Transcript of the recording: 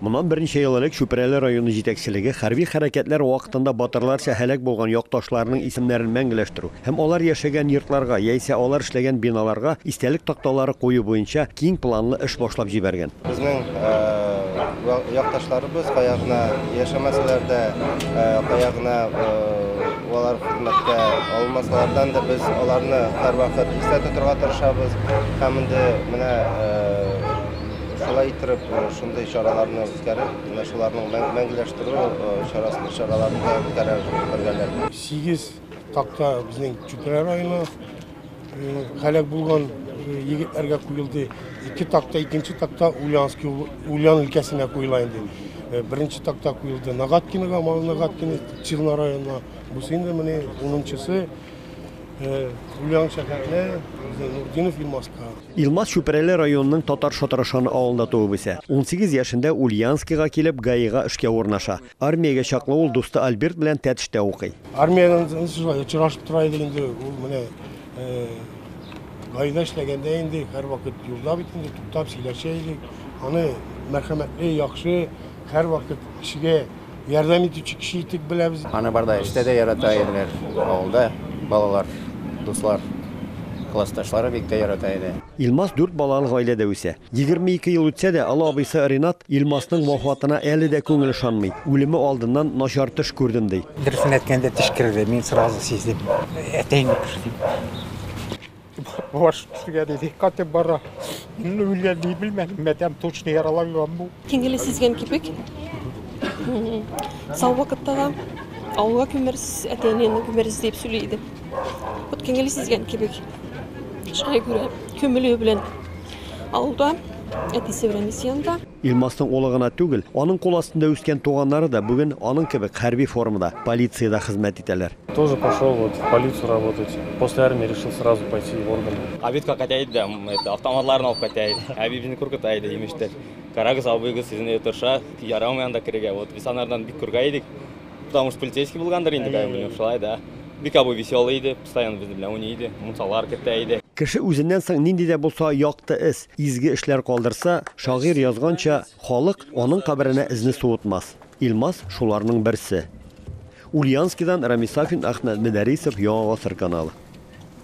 Моннан берничә ел элек Чүпрәле районы җитәкчелеге хәрби хәрәкәтләр вакытында батырларча һәлак булган якташларының исемнәрен мәңгеләштерү һәм алар яшәгән йортларга яисә алар эшләгән биналарга истәлек такталары кую буенча киң планлы эш башлап җибәргән. Безнең якташларыбыз кая гына яшәмәсәләр дә, кая гына алар хезмәткә алынмасалардан да, без аларны һәрвакыт истә тотарга тырышабыз һәм инде менә Шулай иттереп, шундый чараларны үткәреп, менә шуларның мәңгеләштерү чарасы чараларын да үткәрә бергәләр. 8 такта безнең Чүпрә районы һәлак булган егетләргә куелды. Ике такта, икенче такта Ульяновский Ульян өлкәсенә куела инде. Беренче такта куелды Нагаткиныга, Мал Нагаткины, Чирна районына. Бусы инде менә 10-нчысы Ульян шәһәренә, Нурдинов Илмаска. Илмас Чүпрәле районының Татар Шатырышаны авылында туып үсә. Унсигез яшендә Ульянскига килеп, ГАИга эшкә урнаша. Армиягә чаклы ул дусты Альберт белән Тәтештә укый. Армиядән шулай очрашып тора идек инде, ул менә ГАИда эшләгәндә инде һәрвакыт юлда бит инде, туктап сөйләшә идек. Аны мәрхәмәтле, яхшы, һәрвакыт кешегә Ярдәм итүче кеше итеп беләбез. Аны барда эштә дә ярата иделәр. Авылда балалар, дуслар, классташлары бик тә ярата иде. Илмас дүрт балалы гаиләдә үсә. Егерме ике ел үтсә дә, олы абыйсы Ринат Илмасның вафатына әле дә күңел ышанмый, үлеме алдыннан начар төш күрдем, ди. Дөресен әйткәндә, төш керде, мин сразу сиздем, әтәем юк, дип. Баш кешегә диде, катып бара. Инде үлгән дип белмәдем, мәдәм точно яраланган бу. Тиңгеле сизгән кипек. Сау вакытта да авылга күмерс, әтәйнең күмерс дип сөйли иде. Вот тиңгеле сизгән кипек. Шулай күрә, көмеле белән авылда әтисе белән исәнда. Илмастың улы гына түгел, аның кул астында үскән туганнары да бүген аның кебек хәрби формада, полициядә хезмәт итәләр. Тоже пошел вот в полицию работать. После армии решил сразу пойти в органы. Абитка катяйт да, это, автоматларын алып катяйт. Әбибне куркыта иде, имештер. Карагыз, абыйгыз сезнең өйдә торша, ярамый анда керергә. Вот без анардан бик курка идек. Потому что полицейский булгандыр инде, как бы, шулай да. Бик абый веселый иде, постоянно без белән уйный иде, мунсалар кертә иде. Кеше үзеннән соң нинди дә булса якты эз, изге эшләр калдырса, шагыйрь язганча, халык аның каберенә эзне суытмас. Илмас шуларның берсе. Ульянскидан Рамис Сафин, Әхмәт Мөдәрисов, Яңа гасыр каналы.